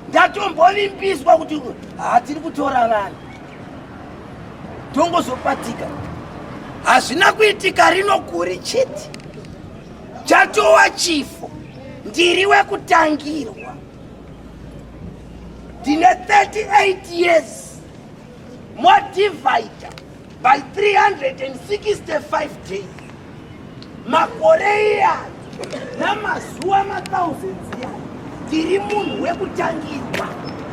ndatombovimbiswa kuti hatiri kutora vanhu tongozopatika hazvina kuitika rino guri chete chatowa chifo ndiri wekutangirwa ndine 38 years modivhaidha by 365 days makore iya namazuva mathousands iya tiri munhu wekutangirwa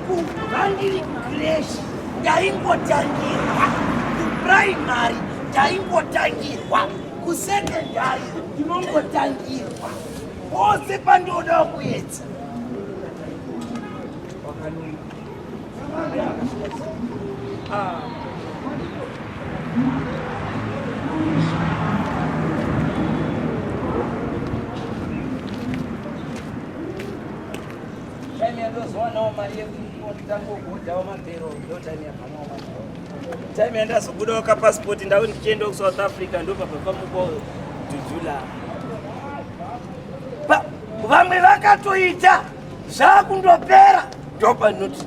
kubva ndiri kresh ndaingotangirwa kuprimary ndaingotangirwa kusekendari ndinongotangirwa pose pandinoda kuedza time yandazobuda waka passport ndau ndichienda kusouth africa ndopabvapamuko dudula vamwe vakatoita zvakundopera ndopanoti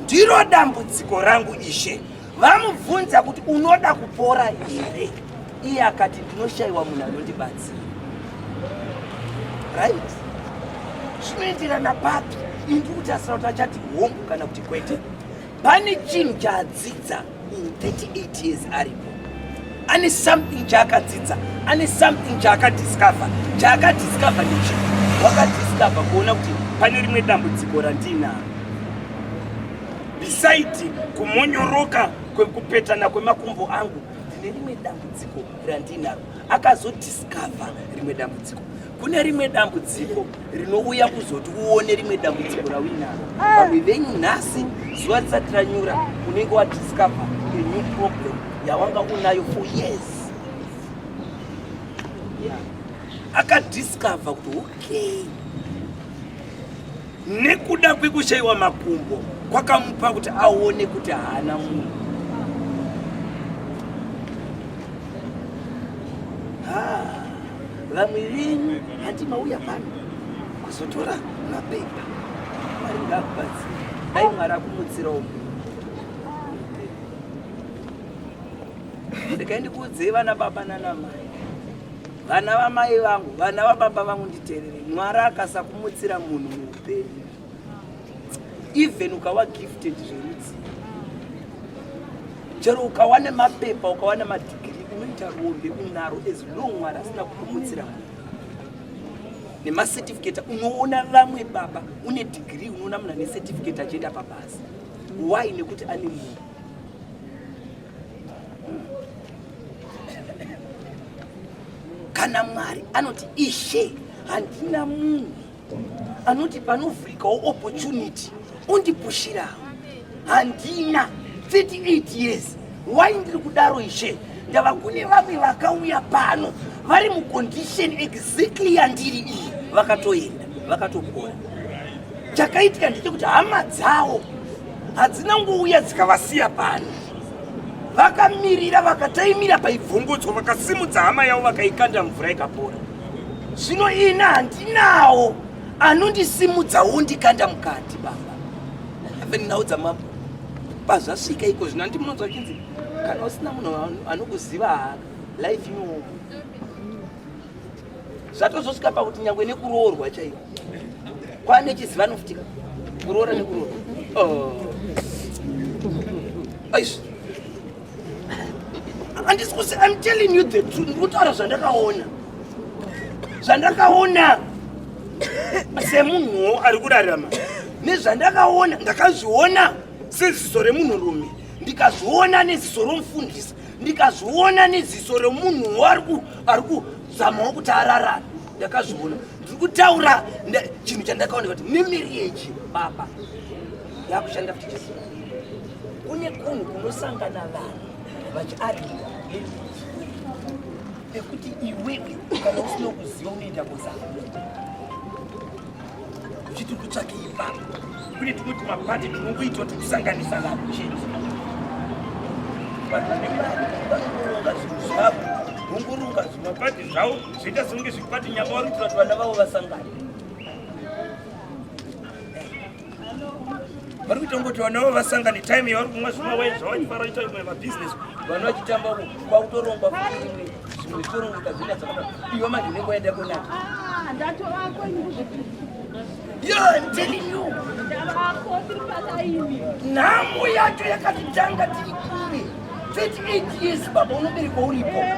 ndiro dambudziko rangu ishe vamubvunza kuti unoda kupora here iye akati ndinoshayiwa munhu anondibatsira right zvinoenderana papi indi kuti asina kuti achati hongu kana kuti kwete pane chinhu chaadzidza in 38 years aripo ane something chaakadzidza ane something chaakadiscover chaakadiscover nechi wakadiscover kuona kuti pane rimwe dambudziko randiinaro bisaidi kumonyoroka kwekupetana kwemakumbo angu ndine rimwe dambudziko randiinaro akazodiscover rimwe dambudziko kune rimwe dambudziko rinouya kuzoti uone rimwe dambudziko rauinaro vamwe venyu nhasi zuva risati ranyura unenge wadiscover a new problem yawanga unayo for years akadiscover kuti okay nekuda kwekushayiwa makumbo kwakamupa kuti aone kuti haana munhu Ah, vamwe venyu hati mauya pano kuzotora mapepa mwari ngakubatsira dai mwari akumutsira umu ndikaendi kuudzei vana baba nana mai vana vamai vangu vana vababa vangu nditerere mwari akasakumutsira munhu muupenyu even ukawa gifted zverudzi chero ukawa nemapepa ukawa nemadigiri unoita rombe unaro as long mwari asina kupumutsira munhu nemacertificate unoona vamwe baba une digiri unoona munhu ane certificate achienda pabasa why nekuti ane munhu kana mwari anoti ishe handina munhu anoti panovhurikawo opportunity ondipushirawo handina 38 years why ndiri kudaro ishe ndava kune vamwe vakauya pano vari mucondition exactly yandiri iyi vakatoenda vakatopora chakaitika ndechekuti hama dzawo hadzina ngouya dzikavasiya pano vakamirira vakataimira paibvongodzwa vakasimudza hama yavo vakaikanda mvura ikapora zvino ini handinawo anondisimudza wondikanda mukati baba even nhau dzamabho pazvasvika iko zvino andi munonzwa chinzi kana usina munhu anokuziva haa life inooma zvatozosvika pakuti nyangwe nekuroorwa chaivo kwane chizivano futika kuroora nekuroora oh. aizvi Andisi kusi I'm telling you the truth. Ndikutaura zvandakaona. Zvandakaona semunhuwo ari kurarama nezvandakaona ndakazviona seziso remunhurume ndikazviona neziso romufundisi ndikazviona neziso remunhuwo ari kuzamawo kuti ararame ndakazviona ndiri kutaura chinhu chandakaona kuti nemiriyeji baba yakushanda futi Jesu kune kunhu kunosangana vanhu vachiarigwa pekuti iwewe kana usina kuziva unoita kuzama uchiti kutsvake ipapo kune tumwe tumapati tunongoitwa tikusanganisa vanhu chete vanhu vane mari vanoronga zvinhu zvavo vongorunga zvimapati zvavo zvoita songe zvipati nyama vari kuti vanhu vana vavo vasangana vari kuita kuti vana vavo vasangane time yavari kumwa zvimwe waini zvavachifara ita imwe mabhizinesi vana vachitamba uko kwakutorongwa kuimwe zvimwe zvitorongeka zvina dzakada iwe manje unenge waenda kunaka nhamo yacho yakatitanga tiri kure 28 years baba unoberekwa uripo eh,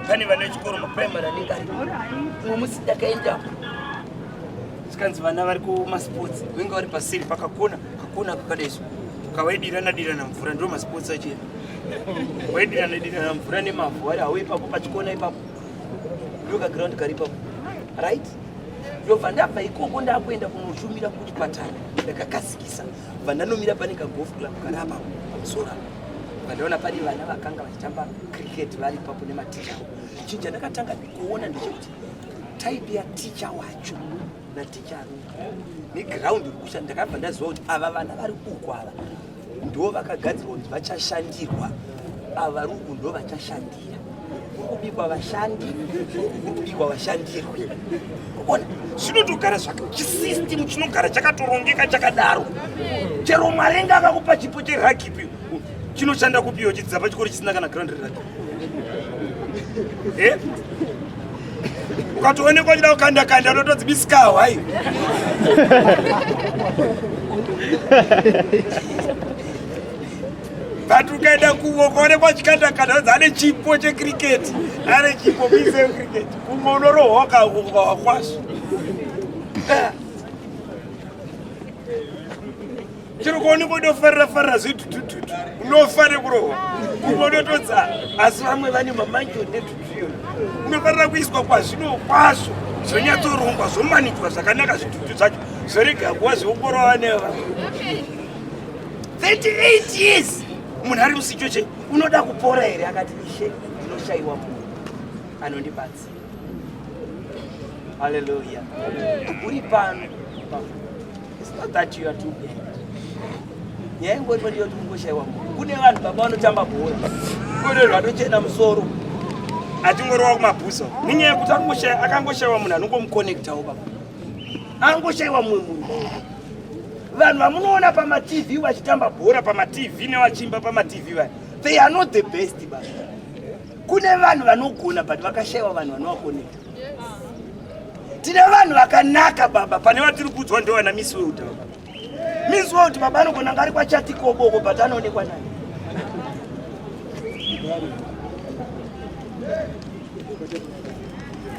pane vana vechikoro maprimary anenge ari umwe musi ndakaendapo zvikanzi vana vari kumasports venge vari pasiri pakakona kakona kakadaiso kavaidirana dirana mvura ndo masports achena waidirana dirana mvura nemavhu ari hauipapo pachikona ipapo ndoka ground karipa right ndobva ndabva ikoko ndakuenda kunoshumira kuchipatara ndakakasikisa bva ndanomira pane kagolf club kari apa pamusoro apo vandaona pane vana vakanga vachitamba cricket vari ipapo nematicha avo chinhu chandakatanga kuona ndechekuti type yaticha wacho naticha aruka neground iri kushanda ndakabva ndaziva kuti ava vana vari uku ava ndo vakagadzirwa kuti vachashandirwa ava ruku ndo vachashandira kubikwa vashandi kubikwa vashandirwe ona zvinotogara zvachisystem chinogara chakatorongeka chakadaro chero marenga akakupa chipo cheragipi chinoshanda kupiwa chidzidza pachikoro chisina kana grand ragipi eh? ukatoonekwa uchida kukanda kanda unotodzibisikawo hai but ukaenda kuvo ukaonekwa chikanda kanda odzi ane chipo checricket ane chipo kuise cricket kumwe unorohoka ukawakwasva chero kuoneka udofarira farira zvetutututu unofa nekurohwa kumwe unotodza asi vamwe vane mamanjo netutuyo unofanira kuiswa kwazvino kwazvo zvonyatsorongwa zvomanikwa zvakanaka zvitutu zvacho zvorega kuva zveukoro vaneva 38 years munhu ari musichoche unoda kupora here akati ishe ndinoshaiwa munhu anondibatsi Hallelujah. Uri pano. It's not that you are too bad. Nyaya ingoti ndiyo kuti kungoshaiwa. Kune vanhu baba vanotamba bhora. Kune vanhu vanochena musoro. Achingorowa kumabhuzo. Nenyaya yekuti akangoshaiwa akangoshaiwa munhu anongomuconnectawo baba. Angoshaiwa mumwe munhu. Vanhu vamunoona pamaTV vachitamba bhora pamaTV nevachiimba pamaTV vaya. They are not the best baba. kune vanhu vanogona but vakashaiwa vanhu vanovakonekta tine vanhu vakanaka baba pane vatiri kuudzwa ndo vana miss world baba miss world baba anogona ngari kwachatikoboko but anoonekwa naye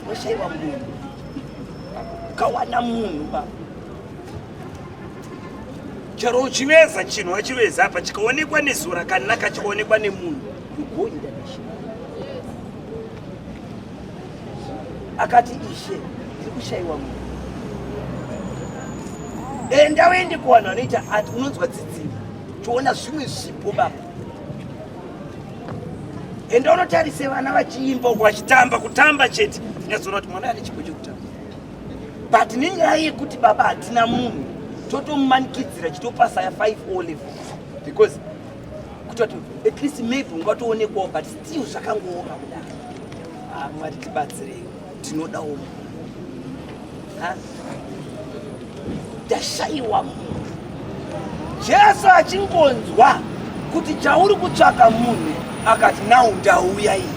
washaiwa munhu ukawana munhu baba chero uchiveza chinhu wachiveza apa chikaonekwa nezuva rakanaka chikaonekwa nemunhu you go international akati ishe ndiri kushaiwa munhu enda uende kuvanhu vanoita ati unonzwa tsidziro toona zvimwe zvipo baba enda unotarise vana vachiimba uko vachitamba kutamba chete ndinyazoona kuti mwana ane chipo chekutamba but nenyaya yekuti baba hatina munhu totomumanikidzira chitopasa ya 5 o level because kutoti at least maybe ungatoonekwawo but still zvakangooma kudaro ah, mwari tibatsirei tinodawo munhu ndashaiwa munhu jesu achingonzwa kuti chauri kutsvaka munhu akati nau ndauya iyi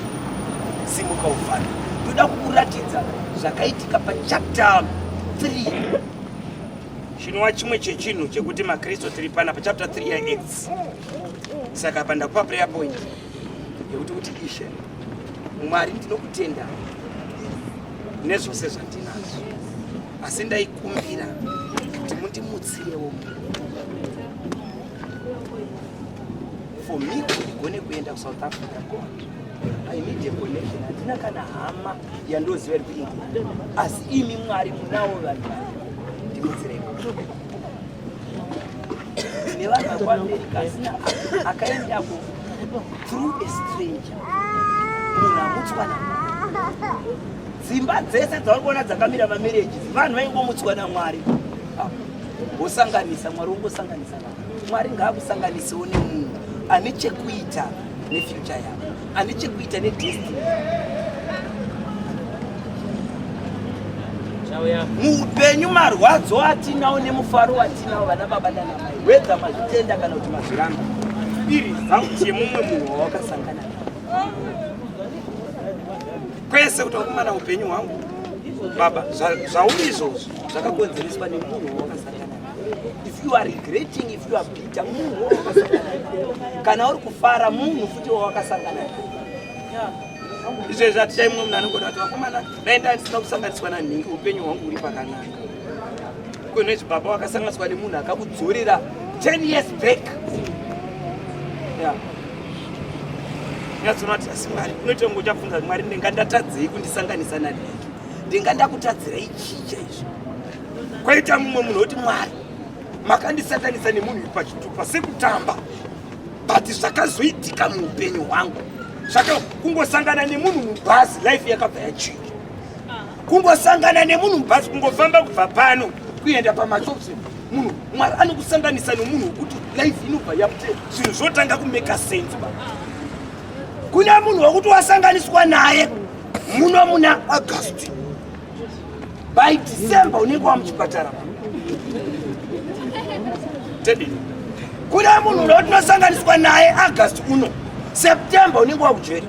simuka ufana ndoda kukuratidza zvakaitika pachapter 3 chinova chimwe chechinhu chekuti makristu tiri pana pachapter 3 yaacts saka apa ndakupa prayer point yekuti kuti ishe mwari ndinokutenda nezvose zvandinazvo asi ndaikumbira kuti mundimutsirewo for me kuti ndigone kuenda kusouth africa god i need a connection handina kana hama yandoziva iri kuita asi imi mwari munawo vanhu ndibetsereko nevanhu vakwamerika asina akaendako through a stranger munhu amutswana dzimba dzese dzauri kuona dzakamira mamereji vanhu vaingomutswa namwari wosanganisa mwari wongosanganisa vanhu mwari ngaakusanganisewo nemunhu ane chekuita nefuture yavo ane chekuita nedestiny muupenyu marwadzo atinawo nemufaro watinawo vana baba nanamai wedza mazvitenda kana kuti mazviramba iri zauti yemumwe munhu wawakasangana kwese kuti wakumana upenyu hwangu baba zvauri izvozvo zvakakonzereswa nemunhu wawakasangana if you are regretting if you are bitter munhu wawakasangana kana uri kufara munhu futi wawakasangana izvezvi hatichai mumwe munhu anogona kuti vakomana daenda ndisina kusanganiswa nanhingi upenyu hwangu huri pakanaka kune zvibaba wakasanganiswa nemunhu akakudzorera 10 years back nyatsoona kuti asi mwari unoita ngo uchabvunza mwari ndinga ndatadzei kundisanganisa nanhingi ndinga ndakutadzira ichicha izvo Kwaita mumwe munhu woti Mwari makandisakanisa nemunhu pachitupa sekutamba but zvakazoitika muupenyu hwangu zvaka kungosangana nemunhu mubhazi life yakabva yachinja kungosangana nemunhu mubhazi kungofamba kubva pano kuenda pamashops munhu mwari anokusanganisa nomunhu wekuti life inobva yapte zvinhu zvotanga kumeka sense ba kuna munhu wekuti wasanganiswa naye muno muna august by December unenge wa muchipatara tedi kune munhu uno tinosanganiswa naye August uno September unenge wa kujeri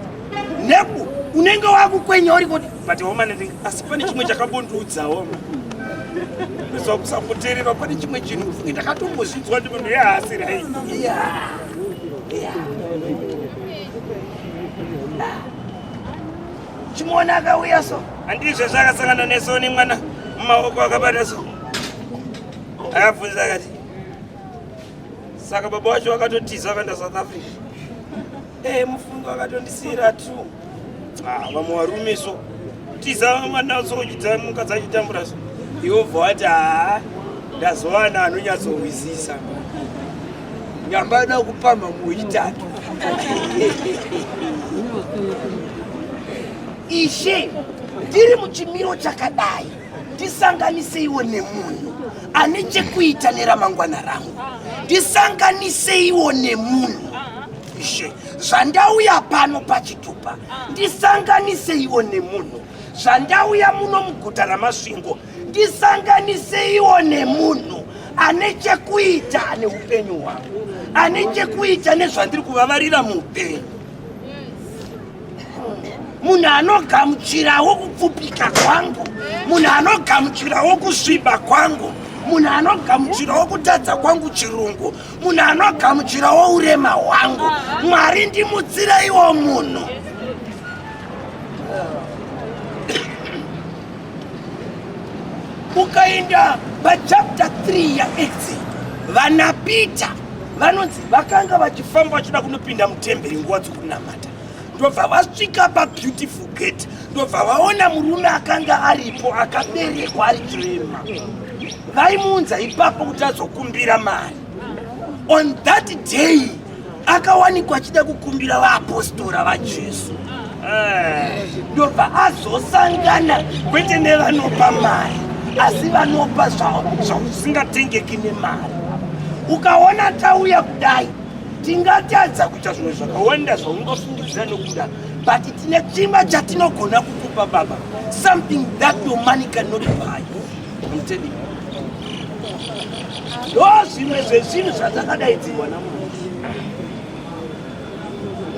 neku unenge wa kukwenya uri kuti but homa nendinga asi pane chimwe chakabondiudza homa ndizwa kusakuterera pane chimwe chinhu funge ndakatombozvinzwa ndi munhu yehaasiri hai yeah. yeah. chimuona akauya so handizvo zvakasangana neso nemwana mumaoko akabata so akabvunza akati saka baba wacho wakatotiza akaenda south africa e mufungo akatondisiira t ah, vamwe varume so tiza mwana sochidza mukadzi achitambura so iwobva wati haa ndazowana anonyatsohwisisa nyamba yoda kupamba muitatu ishe ndiri muchimiro chakadai ndisanganiseiwo nemunhu ane chekuita neramangwana rangu ndisanganiseiwo nemunhu ishe zvandauya pano pachitupa ndisanganiseiwo nemunhu zvandauya muno muguta ramasvingo Ndisanganiseiwo nemunhu ane chekuita ane upenyu hwangu, ane chekuita nezvandiri kuvavarira muupenyu, munhu anogamuchirawo kupfupika kwangu, munhu anogamuchirawo kusviba kwangu munhu anogamuchirawo kutadza kwangu chirungu munhu anogamuchirawo urema hwangu mwari ndimutsireiwo munhu ukaenda pachapter 3 yaacts vana peter vanonzi vakanga vachifamba vachida kunopinda mutemberi nguva dzokunamata ndobva vasvika pabeautiful gate ndobva vaona murume akanga aripo akaberekwa ari chirema vaimuunza ipapo kuti azokumbira mari on that day akawanikwa achida kukumbira vaapostora vajesu eh, ndobva azosangana kwete nevanopa mari asi vanopa zvakusingatengeki nemari ukaona tauya kudai tingatadza kuita zvimwe zvakawanda zvaungafungidzira nokuda but tine chimba chatinogona kukupa baba something that your money cannot buy ndo zvimwe zvezvinhu zvatakadaidzirwa namwari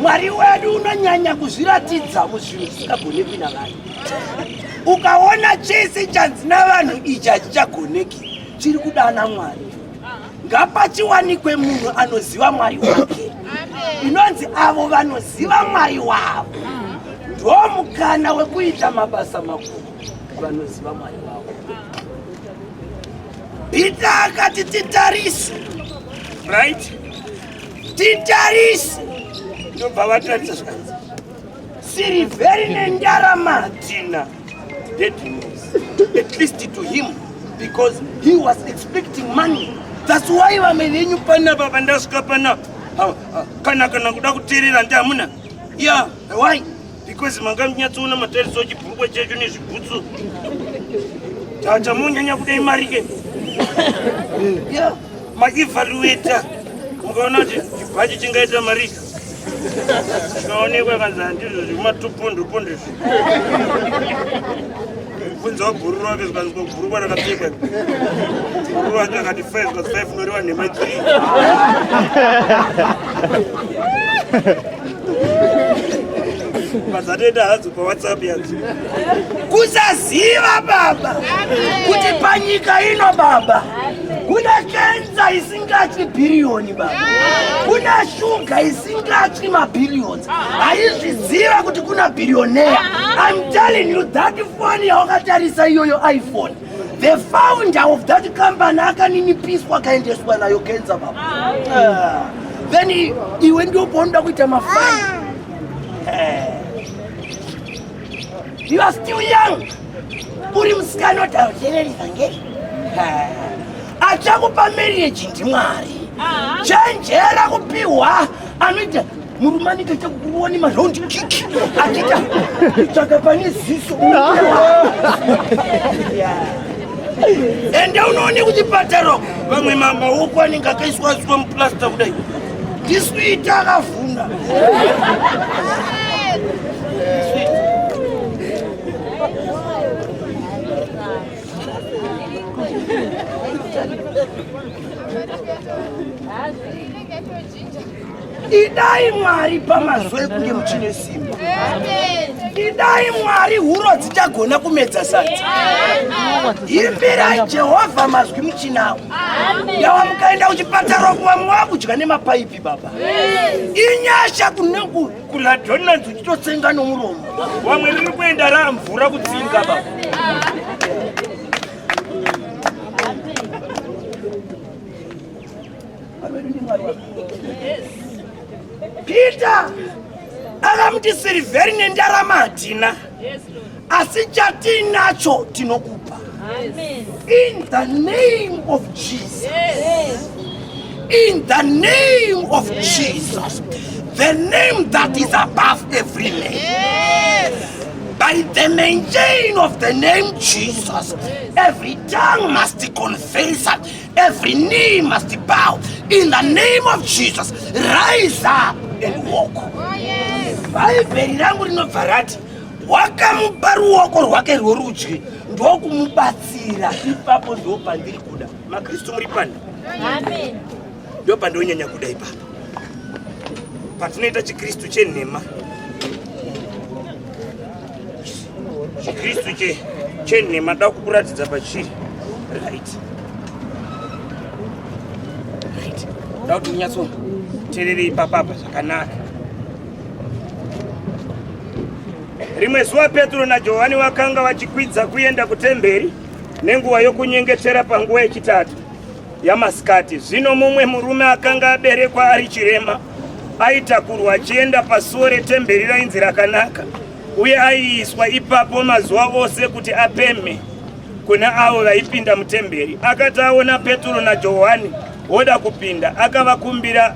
mwari wedu unonyanya kuzviratidza muzvinhu zvisingagonekwi navanhu ukaona chese chanzi navanhu ichi hachichagoneki chiri kudana mwari ngapachiwanikwe munhu anoziva mwari wake inonzi avo vanoziva mwari wavo ndo mukana wekuita mabasa makuru vanoziva mwari wavo peter akati titarise right titarise ndobva vatarise zvanzi sirivheri nendarama hatina at least to him because he was expecting money that's why vamwe venyu panapa vandasvika panapa kana kana kuda kuteerera ndi hamuna ya why because manga munyatsoona matariso chibhurukwa chacho nezvibhutsu tatamonyanya kudai mari ke maevaluata mukaona kuti chibhachi chingaita mari chikaonekwa kanzi handizvo zvekumatupondopondezvo Mubvunzo wabhururu wake zvikanzi bhururu rakapfekwa bhururu wake akati five zvikanzi five unoriwa nhema three mazatoita hadzo pawhatsapp yadzo kusaziva baba kuti panyika ino baba kuna kenza isingatyi bhiriyoni baba kuna shuga isingatyi mabhiriyoni haizviziva kuti kuna bhiriyoneya im telling you that foni yawakatarisa iyoyo iphone the founder of that company akaninipiswa akaendeswa nayo kenza baba ah. then iwe ndio paunoda kuita mafai ah. eh. you are still young uri musikana otauteveri vhangeri achakupa marriage ndimwari chenjera kupihwa anoita murume anenge achakuoni maround kik achita tsvaka pane ziso ende unoone kuti pataro vamwe mamaoko anenge akaiswa asiwa muplasta kudai ndiswita akavhuna idai mwari pamazuva ekunge muchine simba idai mwari huro dzichagona kumedza sadzi imbirai jehovha mazwi muchinawo yawa mukaenda kuchipatara kuva mwakudya nemapaipi baba inyasha kuneku Kuna Donald uchitotsenga nomuromo. Wamwe riri kuenda ramvura kutsinga baba. Peter akamuti sirivheri nendarama hatina. asi chatiinacho tinokupa in the name of jesus in the name of jesus the name that is above every name by the main chain of the name jesus every tongue must confess every knee must bow in the name of jesus rise up and walk bhaibheri rangu rinobva rati wakamupa ruoko rwake rworudyi ndokumubatsira ipapo ndo pandiri kuda makristu muri pani ndo pandonyanya kuda ipapo patinoita chikristu chenhema chikristu chenhema da kukuratidza pachiri right right da kuti unyatso terere ipapapa zvakanaka Rimwe zuva Petro naJohani vakanga vachikwidza kuenda kutemberi nenguva yokunyengetera panguva yechitatu yamasikati. Zvino mumwe murume akanga aberekwa ari chirema aitakurwa achienda pasuo retemberi rainzi rakanaka, uye aiiswa ipapo mazuva ose kuti apemhe kuna avo vaipinda mutemberi. Akati aona Petro naJohani voda kupinda, akavakumbira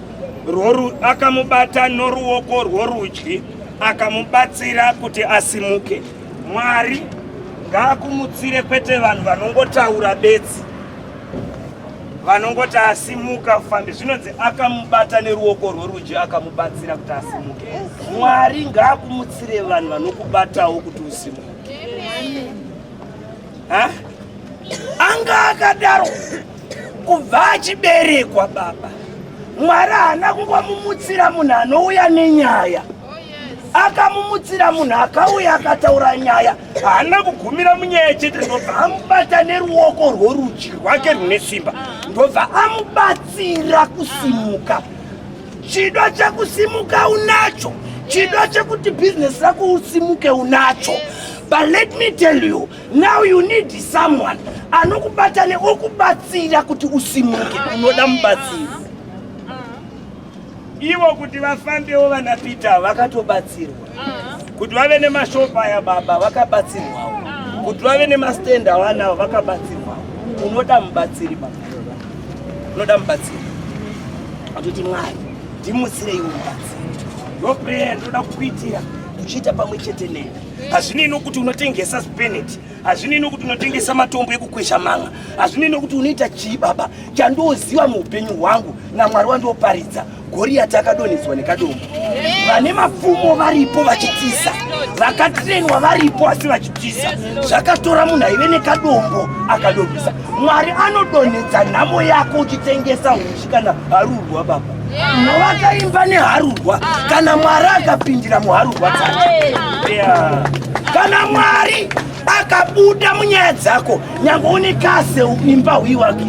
akamubata noruoko rworudyi akamubatsira kuti asimuke mwari ngaakumutsire kwete vanhu vanongotaura bedzi vanongoti asimuka fambi zvinonzi akamubata neruoko rworudyi akamubatsira kuti asimuke mwari ngaakumutsire vanhu vanokubatawo kuti usimuke anga akadaro kubva achiberekwa baba mwari haana kungomumutsira munhu anouya nenyaya akamumutsira munhu akauya akataura nyaya haana kugumira munyaya chete ndobva amubata neruoko rworudyi rwake rune simba ndobva amubatsira kusimuka chido chekusimuka unacho chido chekuti bhizinesi rako usimuke unacho but let me tell you now you need someone anokubata neokubatsira kuti usimuke unoda mubatsiri ivo kuti vafambewo vana peter vakatobatsirwa kuti vave nemashopa aya baba vakabatsirwawo kuti vave nemastend avanawo vakabatsirwawo unoda mubatsiri baba unoda mubatsiri atoti mwari ndimutsirei mubatsiri ndoprayer ndoda kukuitira uchiita pamwe chete nene hazvinei kuti unotengesa speneti hazvinei kuti unotengesa matombo ekukwesha manga hazvinei kuti unoita chii baba chandooziva muupenyu hwangu namwari wandioparidza goriyati akadonhedzwa nekadombo vane mapfumo varipo vachitiza vakatrenwa varipo asi vachitiza zvakatora munhu aive nekadombo akadonhesa mwari anodonhedza nhamo yako uchitengesa kana harurwa baba vakaimba neharurwa kana mwari akapindira muharurwa dzacho kana mwari akabuda munyaya dzako nyange une kase imba huyi wake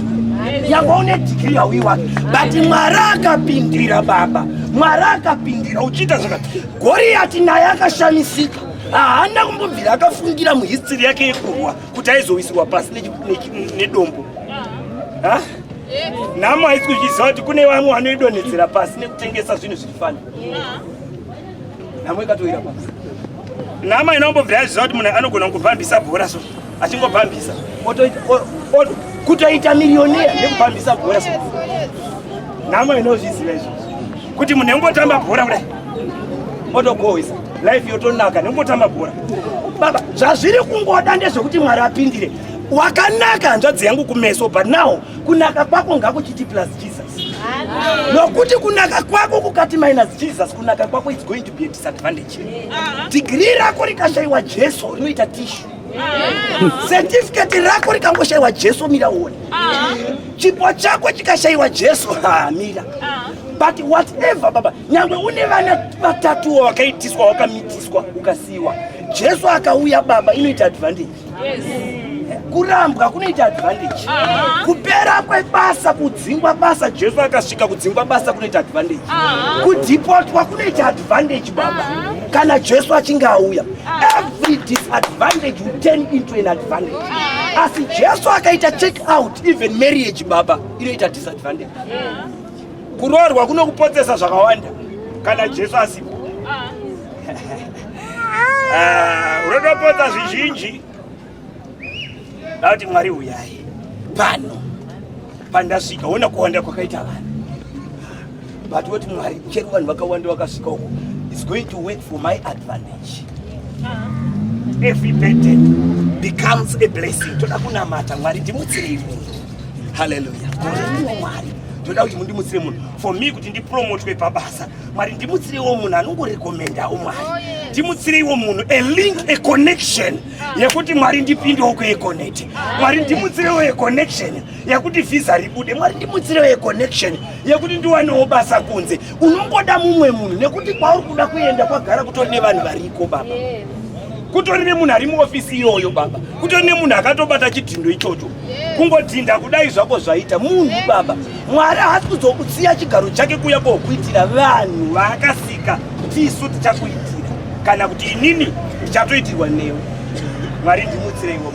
nyange une dhigiri hauyi wake but mwari akapindira baba mwari akapindira uchiita zvaka goriyati naye akashamisika haana kumbobvira akafungira muhistiri yake yekurwa kuti aizowisirwa pasi nedombo nhamo haisi kuzviziva kuti kune vamwe vanoidonhedzera pasi nekutengesa zvinhu zviri fani nhamo ikatoira pasi nhamo inongobvira yaziva kuti munhu anogona kungobhambisa bhora so achingobhambisa kutoita miriyoniya nekubhambisa bhora so nhamo inozviziva izvozvo kuti munhu engotamba bhora kudai otogohwisa life yotonaka nekungotamba bhora baba zvazviri kungoda ndezvekuti mwari apindire wakanaka hanzvadzi yangu kumeso but now kunaka kwako ngakuchiti plus jesus nokuti kunaka kwako kukati minus jesus kunaka kwako its going to be a disadvantage digiri rako rikashaiwa jesu rinoita tishu Certificate rako rikangoshaiwa Jesu mira uone. Chipo chako chikashaiwa Jesu ha mira. But whatever baba, nyangwe une vana vatatu wakaitiswa wakamitiswa ukasiwa. Jesu akauya baba inoita advantage. Yes. Kurambwa kunoita advantage. Kupera kwebasa kudzingwa basa Jesu akasvika kudzingwa basa kunoita advantage. Kudipotwa kunoita advantage baba. Kana Jesu achinge auya Every disadvantage will turn into an advantage. Asi Jesu akaita check out even marriage baba inoita disadvantage. Kuroorwa kunokupotsesa zvakawanda kana Jesu asipo. Ah. Ah, unotopotsa zvizhinji. Ndati Mwari uyai pano pandasvika ona kuwanda kwakaita vanhu but woti Mwari chero vanhu vakawanda vakasvika uko is going to work for my advantage every burden becomes a blessing toda kunamata Mwari ndimutsirei munhu haleluya ndiwo Mwari toda kuti mundimutsire munhu for me kuti ndipromotwe pabasa Mwari ndimutsireiwo munhu anongorekomendawo Mwari oh, ndimutsireiwo munhu a link a connection yekuti mwari ndipindewo kueconect mwari ndimutsirewo econnection yekuti vhisa ribude mwari ndimutsirewo econnection yekuti ndiwanewo basa kunze unongoda mumwe munhu nekuti kwauri kuda kuenda kwagara kutori nevanhu variko baba kutori nemunhu ari muofisi iyoyo baba kutori nemunhu akatobata chidhindo ichocho kungodhinda kudai zvako zvaita munhu baba mwari haasi kuzokusiya chigaro chake kuuya kokuitira vanhu vaakasika tisu tichakuitira kana kuti inini ndichatoitirwa newe mwari ndimutsire iwo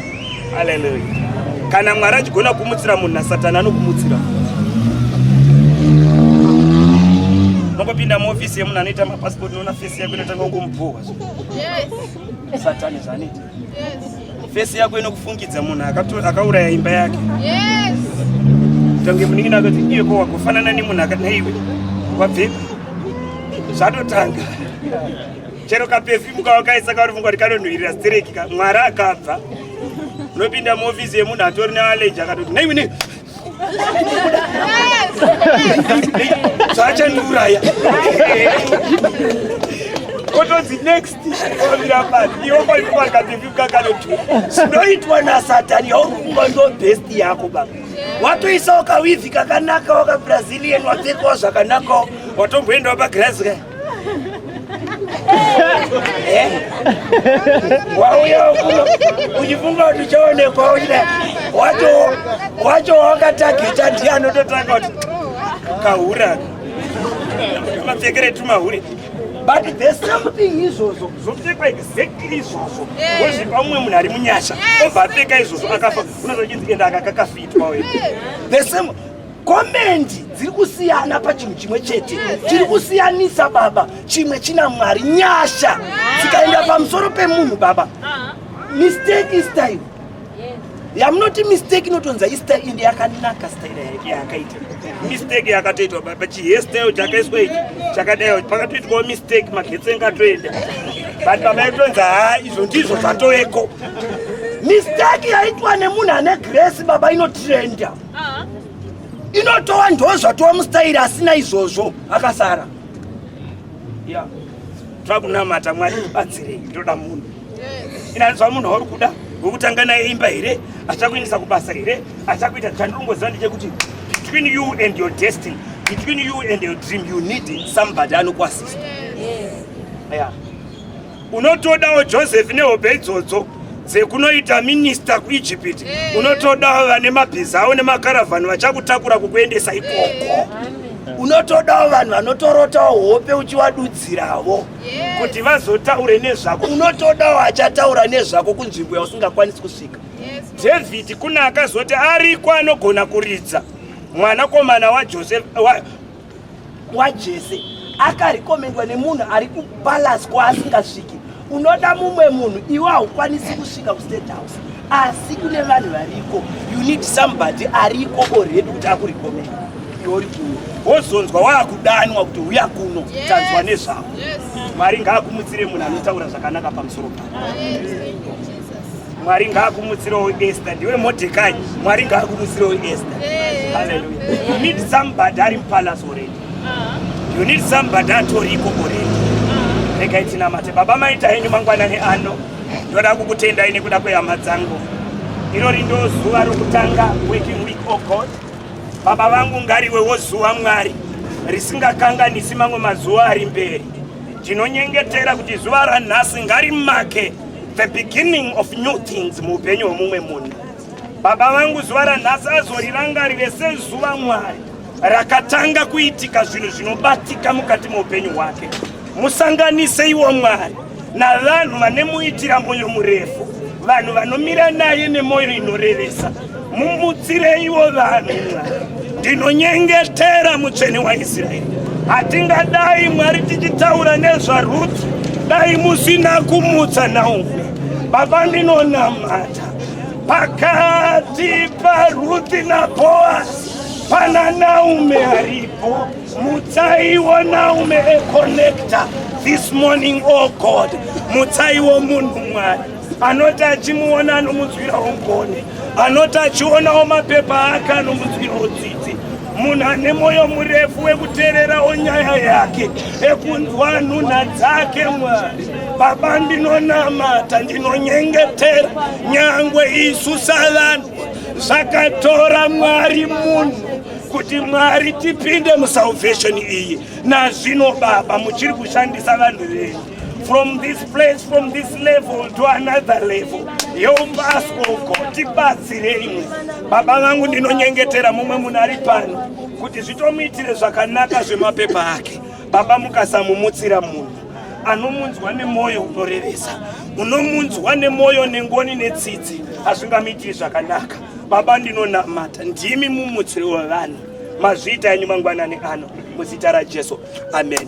aleluya kana mwari achigona kumutsira munhu nasatani anokumutsira mokopinda muofisi yemunhu anoita mapasipoti noona fesi yako inotanga kumubhuhwa satani zvaanoita Face yako inokufungidza munhu akauraya imba yake. Yes. Tange munin'ina akati iye ko wakufanana nemunhu akati naiwe wabvepi? Zvatotanga. Chero kapefimu kawakaisa kauri mungwati kanonhuhirira stereki ka mwari akabva. Unopinda muofisi yemunhu atori nealeji akatoti naiwe nei zvaachandiuraya kotonzi next kwamira pasi iwo kwaikumakativikakanotu zvinoitwa nasatani yaurikuba ndo best yako baba watoisawo kawivhi kakanaka wakabrazilian wapfekawo zvakanakawo watomboendawo pagirazi kaya wauya kuno uchifunga kuti uchaonekwa uchida wacho wacho wakatageta ndiye anototanga kuti kahura mapfekere tumahure but the same thing izvozvo zvopfekwa exactly izvozvo wozvipa umwe munhu ari munyasha obva apfeka izvozvo akafa unozochinzi enda akakakafitwa the same komendi dziri kusiyana pachinhu chimwe chete chiri kusiyanisa baba chimwe china mwari nyasha dzikaenda pamusoro pemunhu baba mistake is time yamunoti mistake inotonza istyle ende yakanaka style yake yakaita mistake yakatoitwa baba chihestyle chakaiswa ichi chakadaiwa pakatoitwawo mistake magetsi engatoenda but baba yatonza ha izvo ndizvo zvatoveko mistake yaitwa nemunhu ane grace baba inotrenda inotowa ndozva towa mustairi asina izvozvo akasara ya toda kunamata mwari batsirei ndoda munhu inanzwa munhu wauri kuda wekutanga naye imba here achakuendesa kubasa here achakuita chandirongoziva ndechekuti between you and your destiny between you and your dream you need somebody anokuasista yeah. unotodawo joseph nehope idzodzo dzekunoita minista kuegypt eh. unotodawo vane mabhiza avo nemakaravhani vachakutakura kukuendesa ikoko eh. unotodawo vanhu vanotorotawo hope uchivadudziravo eh. kuti vazotaure nezvako unotodawo achataura nezvako kunzvimbo yausingakwanisi kusvika dhavhidhi kune akazoti ariko anogona kuridza mwanakomana wajoseph wajese akarekomendwa nemunhu ari kupalace kwaasingasviki unoda mumwe munhu iwe haukwanisi kusvika kustate house asi kune vanhu variko you need somebody ariko oredi kuti akurekomenda iori kuno wozonzwa waakudanwa kuti uya kuno tanzwa nezvavo mwari ngaakumutsire munhu anotaura zvakanaka pamusoro paa Mwari ngaakumutsirewo Esther, ndiwe Mordecai. Mwari ngaakumutsirewo Esther. Hallelujah. You need somebody ari palace already. Uh-huh. You need somebody atoriko already. Uh-huh. Rega itinamate. Baba maita henyu mangwanani ano. Ndoda kukutendai nekuda kwehama dzangu. Irori ndo zuva rokutanga working week oh God. Baba vangu ngariwewo zuva Mwari risingakanganisi mamwe mazuva ari mberi. Ndinonyengetera kuti zuva ranhasi ngarimake the beginning of new things muupenyu hwemumwe munhu baba vangu zuva ranhasi azorirangarire sezuva mwari rakatanga kuitika zvinhu zvinobatika mukati meupenyu hwake musanganise iwo mwari navanhu vanemuitira mwoyo murefu vanhu vanomira naye nemwoyo inorevesa mumutsireiwo vanhu ndinonyengetera mutsvene waisraeri hatingadai mwari tichitaura nezvarudzi dai musina kumutsa naumwe baba ndinonamata pakati parudzi naboasi pana naume aripo mutsaiwo naume econnecta this morning o oh god mutsaiwo munhu mwari anoti achimuona anomunzwirawo ngoni anoti achionawo mapepa ake anomunzwirawo dzidzi munhu ane mwoyo murefu wekuteererawo nyaya yake ekunzwa nhunha dzake mwari baba ndinonamata ndinonyengetera nyangwe isu savanhu zvakatora mwari munhu kuti mwari tipinde musalvation iyi nazvino baba muchiri kushandisa vanhu venyu from this place from this level to another level help us oh God tibatsirei baba vangu ndinonyengetera mumwe munhu ari pano kuti zvitomuitire zvakanaka zvemapepa ake baba mukasamumutsira munhu anomunzwa nemwoyo unorevesa unomunzwa nemwoyo nengoni netsitsi hazvingamuitiri zvakanaka baba ndinonamata ndimi mumutsiri wevanhu mazviita enyu mangwanani ano muzita rajesu amen